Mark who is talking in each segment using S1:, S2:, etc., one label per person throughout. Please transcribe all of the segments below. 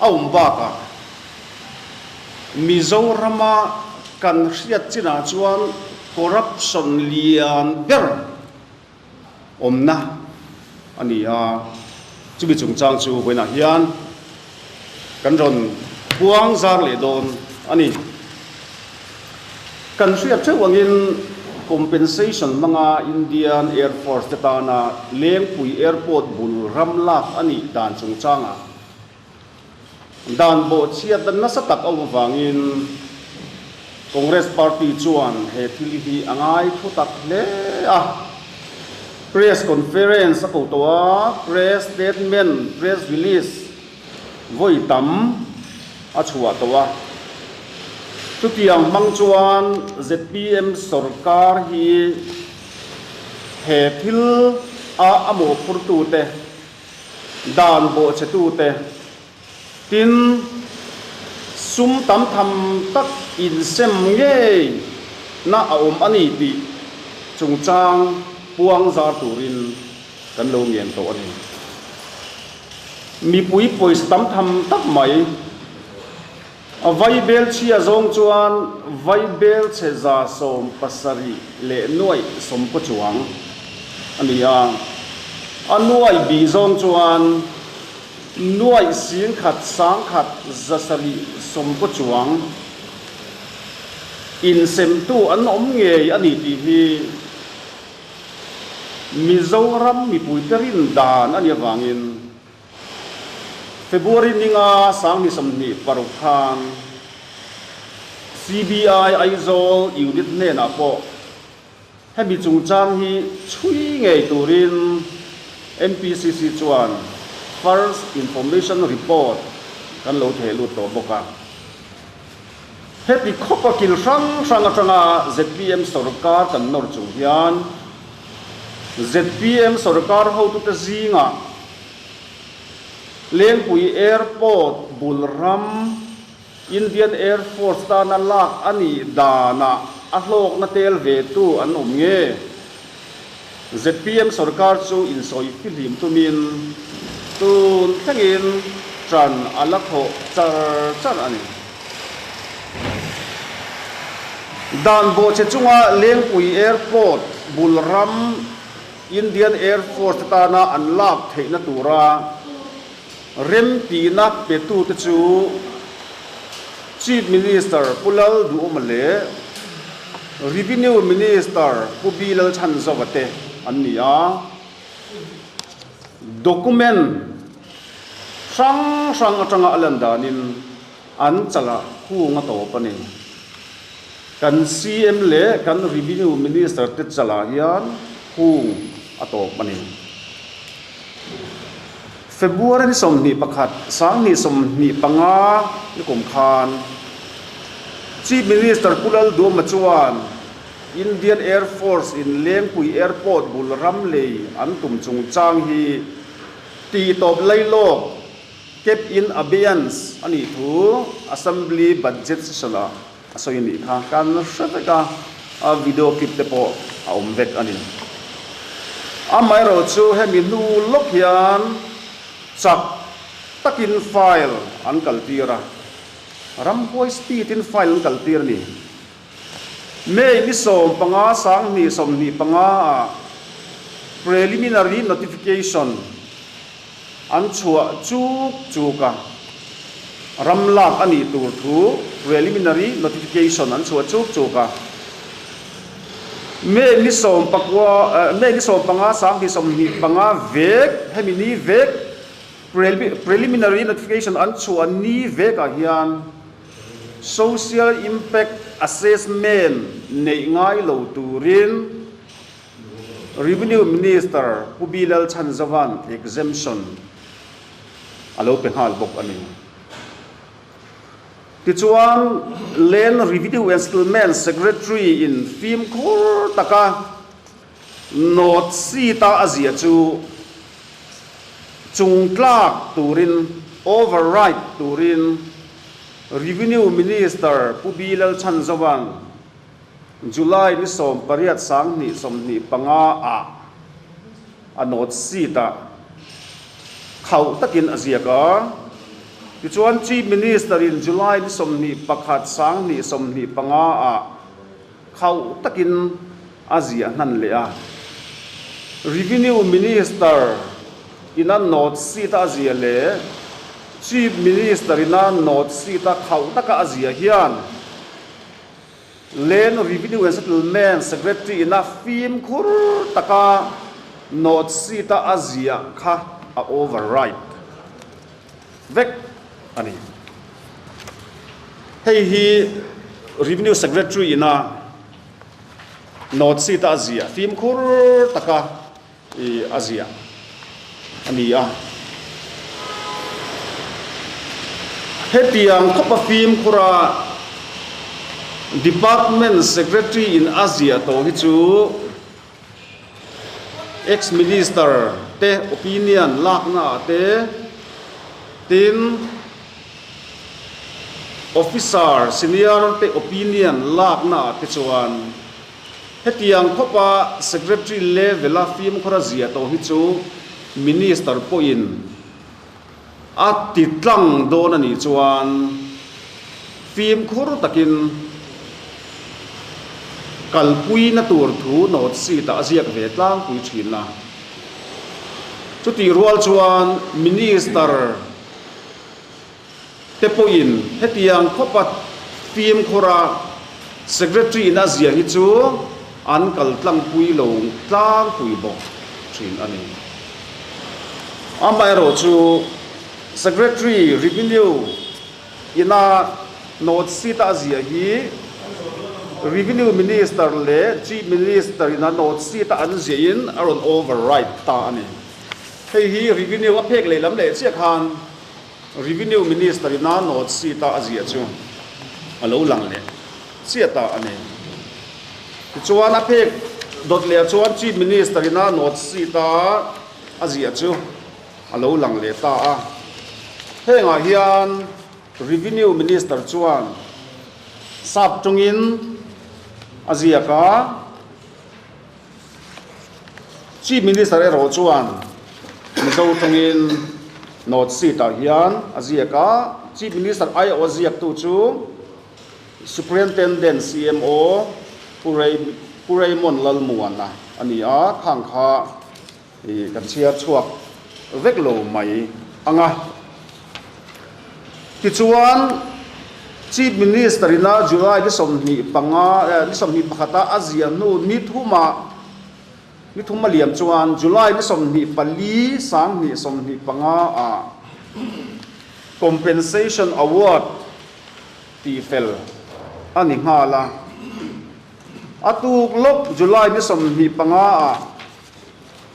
S1: A awm bakah, Mizorama kan hriat chinah chuan corruption lian ber awmna a ni a. Chumi chungchang chu vawiinah hian kan rawn buang zar leh dawn a ni. Kan hriat theuh angin compensation hmanga Indian Air Force te tana Lengpui Airport bul ram lak a nih dan chungchangah dan bawh chhiat dan nasa tak awm avangin Congress Party chuan he thil hi a ngai thu tak hle a. Press Conference a ko tawh a, Press Statement, Press Release, vawi tam a chhuah tawh a. Chutiang hmang chuan zpm sorkar hi he thil a a mawhphurtute, dan bawhchetute tin sum tam tham tak insem ngei na a awm a ni tih chungchang puang zar turin Kan lo ngen tawh a ni. Mipui pawisa tam tham tak mai. A Vaibel chhia zawng chuan Vaibel chhe za sawm pasarih leh nuaih sawm pawh chuang a ni a. A nuaih bih zawng chuan nuaih sing khat sang khat za sarih sawm pawh chuang insemtu an awm ngei a ni tih hi, Mizoram mipuite rindan a nih avangin February ninga Sangni sawmhnih paruk khan CBI Aizawl unit hnenah pawh hemi chungchang hi chhui ngei turin NPCC chuan First Information Report kan lo theh lut tawh bawk a. Heti khawpa kil hrang hrang atanga zpm sorkar kan nawr chung hian zpm sorkar hotute zinga Lengpui Airport bul ram Indian Air Force tana lak a nih danah a hlawkna tel ve tu an awm nge? zpm sorkar chu insawi pi hlim tumin tun thlengin ṭan a la khawh char char a ni. Dan bawhchhe chunga Lengpui Airport bul ram Indian Air Force te tana an lak theihna tura Remtihna petute chu Chief Minister Pu Lalduhawma leh Revenue Minister Pu Bi Lalthanzawa te an ni a, document hrang hrang atanga a lan danin, An changah kung a tawp a ni. Kan CM leh kan Revenue Minister te changah hian kung a tawp a ni. February ni sawmhnih pakhat, Sanghnih sawmhnih panga lukum khan Chief Minister Pu Lalduama chuan Indian Air Force in Lengpui Airport bul ramlei an tum chungchang hi tihtawp lailawk, Cap in abeyance a nih thu Assembly budget session ah a sawi nih kha kan la hre vek a, a video clip te pawh a awm vek a ni. Amaherawh chu hemi hnu lawk hian chak takin file an kaltir a, ramhuai speed in file an kaltir a ni. May ni sawm panga Sanghnih sawmhnih panga ah preliminary notification an chhuah chuk chuk a, ram lak a nih tur thu preliminary notification an chhuah chuk chuk a. May ni sawm pakua May ni sawm panga Sanghnih sawmhnih panga vek hemi ni vek preliminary notification an chhuah ni vek ah hian Social Impact Assessment neih ngai lo turin Revenue Minister Pu Bi Lalchhan Zavan exemption a lo pe nghal bawk a ni. Tichuan Land Revenue and Settlement Secretary-in fimkhur taka Note, Seat-a a ziah chu chung tlak turin, override turin, Revenue Minister Pu Bi Lalchhan Zawng July ni sawm pariat sang hnih sawmhnih panga ah a note seat-a khauh takin a ziak a. Tichuan Chief Minister-in July ni sawmhnih pakhat sang hnih sawmhnih panga ah, Khauh takin a ziah hnan leh a. Revenue Minister ina note sheet a ziah leh Chief Minister ina note sheet a khauh taka a ziah hian Land Revenue and Settlement Secretary ina fimkhur taka note sheet a a ziah kha a override. vek a ni. Hei hi Revenue Secretary ina note sheet a ziah fim khur taka a ziah a ni a. Hetiang khawpa fim khura Department Secretary in a ziah tawh hi chu Ex-minister te opinion laknaah te, tin officer senior te opinion laknaah te chuan hetiang khawpa secretary level-a fimkhawra zia tawh hi chu minister pawhin, A ti tlang dawn a nih chuan fimkhur takin kalpuina tur thu note sheet ah a ziak ve tlangpui thin a. Chutih rual chuan Minister Te pawhin hetiang khawpa fimkhawra Secretary in a zia hi chu an kal tlangpui lo tlangpui bawk thin a ni. Amaherawh chu Secretary Revenue ina North seat a zia hi Revenue Minister leh Chief Minister ina North seat a an zia in a rawn override ta a ni. Hei hi Revenue a phek lehlam leh chiah khan, Revenue Minister ina note sheet a a ziah chu a lo lang leh chiah ta a ni. Tichuan a phek dawt leh chuan Chief Minister ina note sheet a a ziah chu a lo lang leh ta a. Hengah hian Revenue Minister chuan sap tawngin a ziak a. Chief Minister erawh chuan Mizo tawngin North seat ah hian a ziak a, Chief Minister aiawh a ziaktu chu Superintendent CMO Pu Raymond Lalmuana a ni a, khang kha. I kan chhiar chhuak vek lo mai ang a. Tichuan, Chief Minister ina July ni sawmhnih panga, ni sawmhnih pakhata a ziah hnu ni thuma, ni thum a liam chuan July ni sawmhnih pali, Sanghnih sawmhnih panga ah Compensation Award tih fel a ni nghal a. A tuk lawk July ni sawmhnih panga ah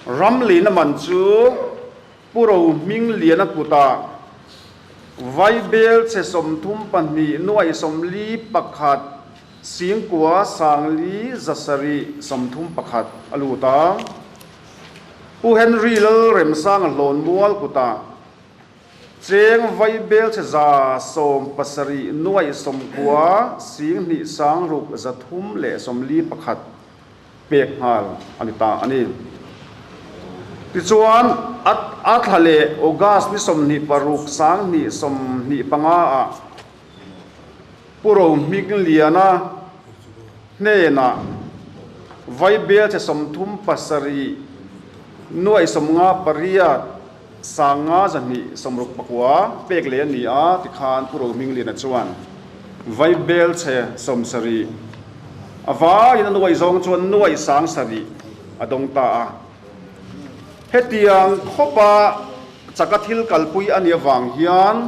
S1: Ram leina man chu Pu Rohming Liana kuta Vaibel che sawmthum pahnih nuaih sawmli pakhat Singkua sangli za sarih sawmthum pakhat a lut a. Pu Henry Lalremsanga Hlawnmual kuta Cheng Vaibel che za sawm pasarih nuaih sawmkua Sing hnih sangruk za thum leh sawmli pakhat, pek nghal a ni ta a ni. Tichuan, Athla leh August ni sawmhnih paruk sanghnih sawmhnih panga ah Puro Hmingliana hnenah Vaibel che sawmthum pasarih nuaihsawmnga pariat, Sanga zahnih sawmruk pakua pek leh a ni a ti khan Pu Rohmingliana chuan vai bel chhe sawm sarih a vaiin a nuai zawng chuan nuai sang sarih a dawng ta a. Hetiang khawpa Chaka thil kalpui a nia vang hian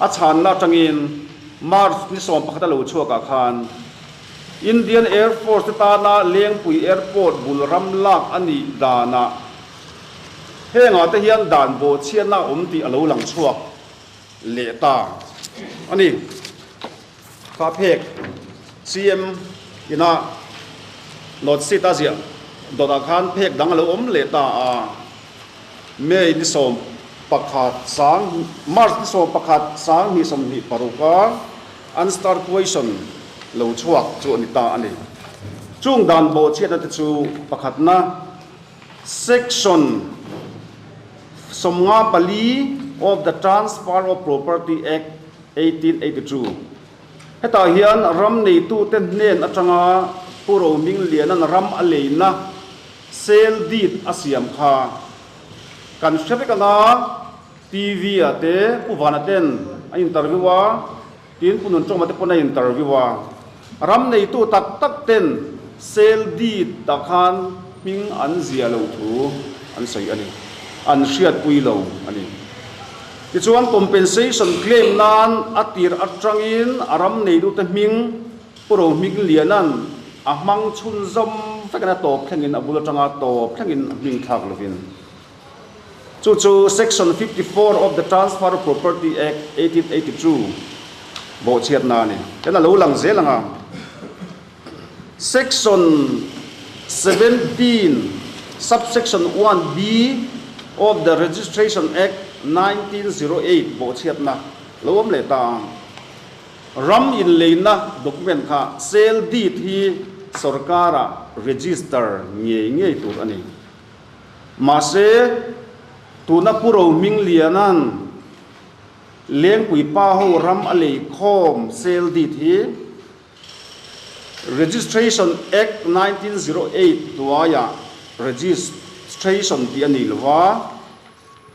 S1: A chhanna atangin March ni sawm pakhat a lo chhuakah khan Indian Air Force te tana Lengpui Airport bul ram lak a nih danah hengah te hian dan bawhchhiatna a awm tih a lo lang chhuak leh ta a ni. Kha phek CM ina note sheet a ziah dawt ah khan phek dang a lo awm leh ta a. May ni sawm pakhat sang March ni sawm pakhat sang hnih sawm hnih paruk a an star puaisawn lo chhuak chu a ni ta a ni. Chung dan bawh chhiatna te chu pakhatna Section sawmnga pali of the Transfer of Property Act, eighteen eighty two. Hetah hian ram neitute hnen atanga Pu Rohming Liana'n ram a leina sale deed a siam kha kan hre vek anga TV-ah te Pu Vana ten a interview a, tin Pu Nuntawma te pawn a interview a. Ram neitu tak tak ten sel deed ah khan hming an ziah lo thu an sawi a ni. An hriatpui lo a ni. Tichuan compensation claim nan a tir atangin a ram neitu te hming puro hming lianan a hmang chhun zawm vekin a tawp thlengin a bul atanga tawp thlengin a hming thlak lovin, Chu chu Section fifty four of the Transfer of Property Act eighteen eighty two bawhchhiatna a ni. Tin a lo lang zel ang a, Section seventeen, Subsection one B of the Registration Act nineteen zero eight bawhchhiatna lo awm leh ta a. Ram inleina document kha sale deed hi sorkara register ngei ngei tur a ni. Mahse, tuna Pu Rohming Liana'n Lengpui pa ho ram a lei khawm sel dit hi Registration Act nineteen zero eight hnuaiah Registration tih a nei lova,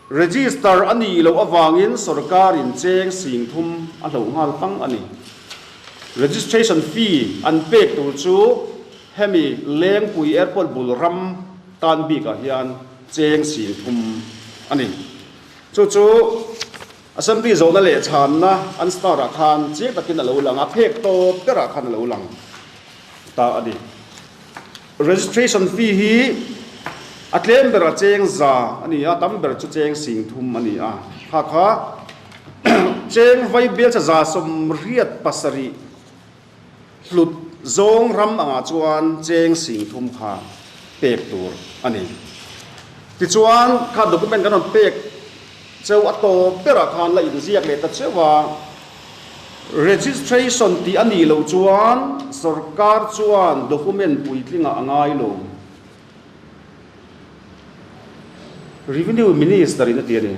S1: Register a nih loh avangin sawrkarin cheng sing thum a hloh nghal fang a ni. Registration fee an pek tur chu hemi Lengpui Airport bul ram tan bikah hian cheng sing thum a ni. Chu chu Assembly zawhna leh chhanna an start ah khan chiang takin a lo lang a, phek tawp berah khan a lo lang ta a ni. Registration fee hi a tlem bera cheng za a ni a, tam ber chu cheng sing thum a ni a. Hakha cheng vai bialcha za sawmriat pasarih hlut zawng ram angah chuan cheng sing thum kha pek tur a ni. Tichuan kha document kan rawn pek Cheu a taw berah khan la inziak leh ta cheu a, registration tih a nih loh chuan sawrkar chuan document puitlingah a ngai lo. Revenue Minister-in a ti a ni.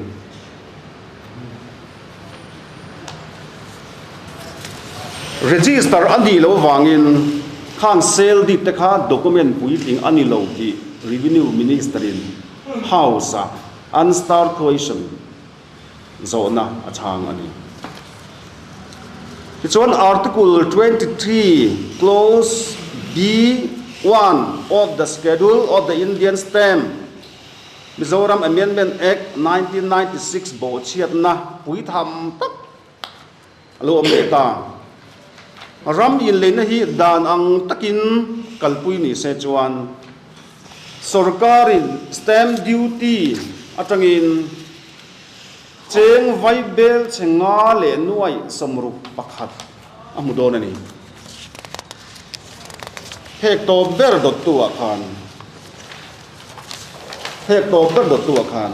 S1: Register a nih loh vangin khang sale deed te kha document puitling a ni lo tih Revenue Minister-in House-a. Unstartuation zawhna a chhang a ni. Tichuan, Article twenty three, Clause B one of the Schedule of the Indian Stamp, Mizoram Amendment Act, nineteen ninety six bawhchhiatna pui tham tak A lo awm leh ta. Ram inleihna hi dan ang takin kalpui ni se chuan sorkarin stamp duty atangin cheng vai bel che nga leh nuai sawmruk pakhat a hmu dawn a ni. Hek tawp ber dawttu ah khan hek tawp ber dawttu ah khan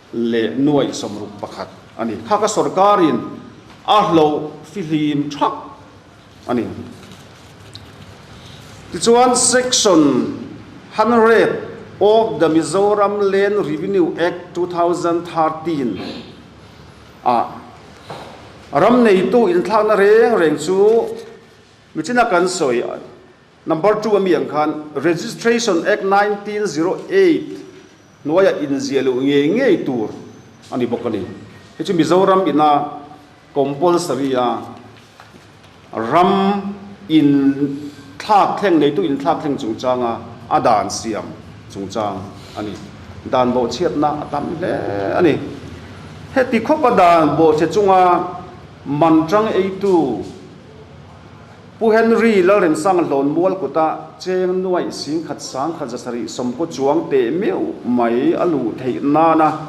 S1: leh nuaih sawmruk pakhat a ni. Hakha sorkarin a hlauh fihlim thap a ni. Tichuan, Section hundred of the Mizoram Land Revenue Act two thousand thirteen ah ram neitu inthlakna reng reng chu michina kan sawi. Number two a mi ang khan Registration Act nineteen zero eight hnuaia inziah loh ngei ngei tur a ni bawk a ni. Hei chu Mizoram ina compulsory a ram in thlak thleng neitu in thlak thleng chungchanga a dan siam chungchang a ni. Dan bawhchhiatna a tam hle a ni. Heti khawpa dan bawhchhe chunga man tang eitu, Pu Henry Lalrinsanga hlawn mual kuta cheng nuaih singkhat sangkhat zasarih sawmkaw chuang teh meuh mai a luh theih nana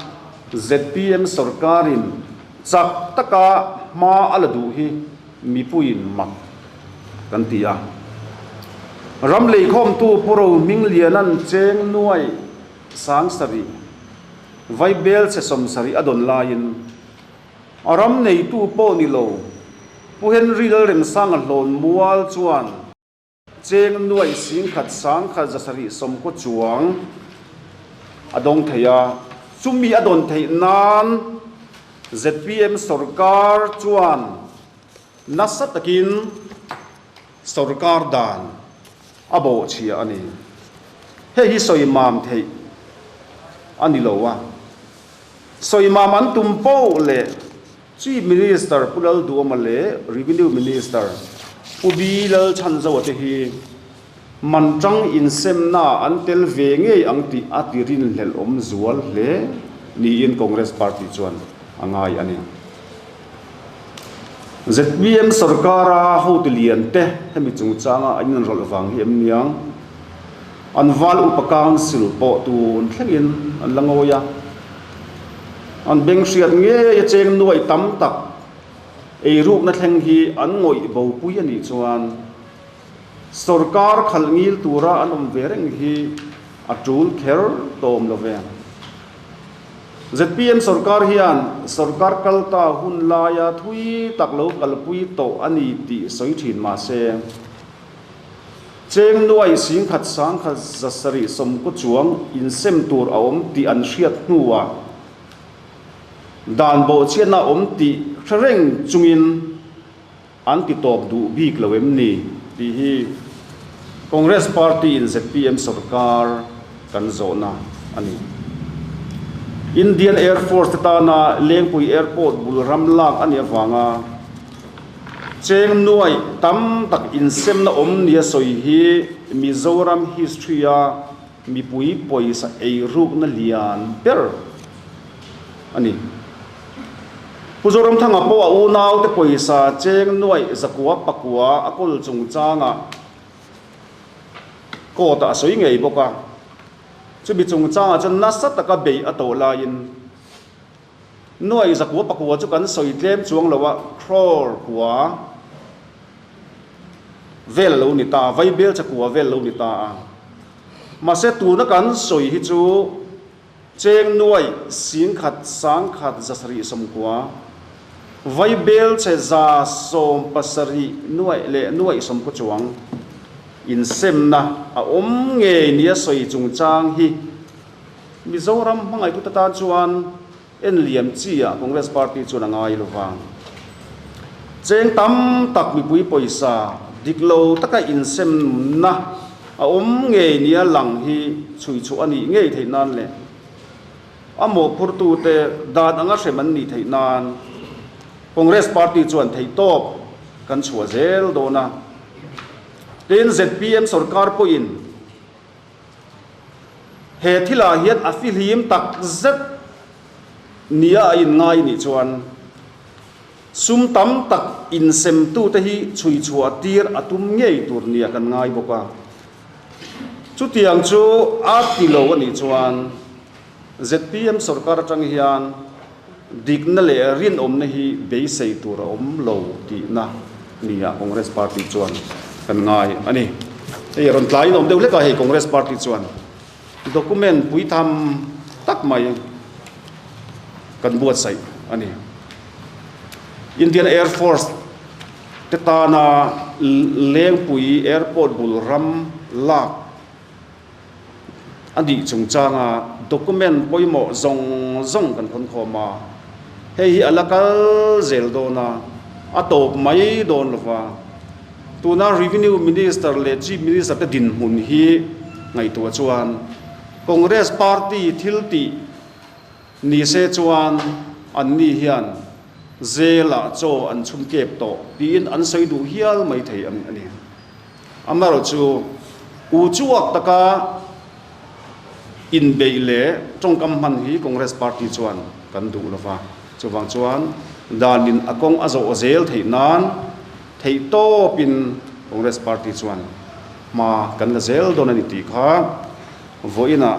S1: zpm sorkarin chak taka hma a la duh hi mipuiin mak kan ti a. Ram leikhawmtu Pu Rohmingliana'n cheng nuaih sangsarih, Vaibel chhe sawmsarih a dawn laiin, A ram neitu pawh ni lo. Pu Henry Lalremsang a hlawn mual chuan cheng nuai sing khat sang khat zasarih sawmkhaw chuang a dawng thei a. Chumi a dawn theih nan zpm sorkar chuan nasa takin. Sorkar dan a bawhchhiah a ni. Hei hi sawi mam theih a ni lo a, sawi mam an tum poh leh Chief Minister Pu Lalduama leh Revenue Minister Pu Bi Lalchhanzoa te hi man tang insemna an tel ve ngei ang tih a ti rinhlelhawm zual hle niin Congress Party chuan a ngai a ni. Zpm sawrkara hotu lian te hemi chungchanga an inrawlh vang hi em niang, an val upa council pawh tun thlengin an la ngawi a, an beng hriat ngei a cheng nuaih tam tak ei rukna thleng hi an ngawih bopui a nih chuan, Sorkar khalhngil tura an awm ve reng hi a tul kher tawm lo ve. Zpm sorkar hian sorkar kalta hun laia thui tak lo kalpui tawh a ni tih sawi thin mahse, Chengnuai Singkhat Sangkhat zasarih sawmkaw chuang insem tur a awm tih an hriat hnuah dan bawhchiatna awm tih hre reng chungin, An ti tawp duh bik lo em ni? Tih hi Congress party-in zpm sawrkar kan zawhna a ni. Indian Air Force-te tana Lengpui Airport bul ram lak a nih avanga cheng nuai tam tak insemna awm nia sawi hi Mizoram history-a Mipui pawisa ei rukna lian ber a ni. Pu Zoramthanga pawh a unaute pawisa cheng nuaih zakua pakua a kawl chungchanga court-ah a sawi ngei bawk a. Chumi chungchanga chuan nasa taka beih a tawh laiin, Nuaih zakua pakua chu kan sawi tlem chuang lo a, crore kua vel a lo ni ta a, vai belcha kua vel a lo ni ta a. Mahse tuna kan sawi hi chu cheng nuaih sing khat sang khat za sarih sawm kua, vai belche za sawm pasarih nuaih leh nuaih sawm khaw chuang insemna a awm ngei nia sawi chungchang hi. Mizoram hmangaihtu te tan chuan en lian chiah Congress Party chuan a ngai lovang. Cheng tam tak mipui pawisa dik lo taka insem na a awm ngei nia lang hi chhui chhuah a nih ngei theih nan leh a mawhphurtu te dan anga hrem an nih theih nan Congress Party chuan theihtawp kan chhuah zel dawn a. Tin zpm sorkar pawhin He thilah hian a fihlim tak zet nia a inngai nih chuan sum tam tak insemtute hi chhui chhuah tir a tum ngei tur nia kan ngai bawk a. Chutiang chu a ti lo a nih chuan. Zpm sorkar atang hian dikna leh rinawmna hi beisei tur a awm lo tihna ni a Congress Party chuan kan ngai a ni. Hei a rawn tlaiin a awm deuh hlek a, hei Congress Party chuan document pui tham tak mai kan buatsaih a ni. Indian Air Force te tana Lengpui Airport bul ram lak, A nih chung changa document pawimawh zawng zawng kan hawn khawm a, hei hi a la kal zel dawn a, a tawp mai dawn lo va. Tuna Revenue Minister leh Chief Minister te dinhmun hi ngaihtuah chuan Congress Party thil tih ni se chuan anni hian zelah chaw an chhun kep tawh tiin an sawi duh hial mai thei a ni. Amal chu u chuak taka inbeih leh tawngkam hman hi Congress Party chuan kan duh lo va, chuvang chuan danin a kawng a zawh zel theih nan theihtawpin Congress Party chuan hma kan la zel dawn a ni tih kha vawiinah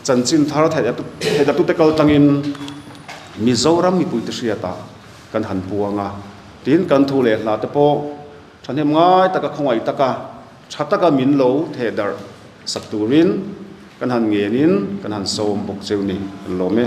S1: chanchin thar theitatute kal tangin Mizoram mipuite hriatah kan han puang a, tin kan thu leh hlate pawh. Thahnem ngai taka khawngaih taka tha taka min lo theh darh sak turin kan han ngenin kan han sawm bawk cheu ni, kan lawm e.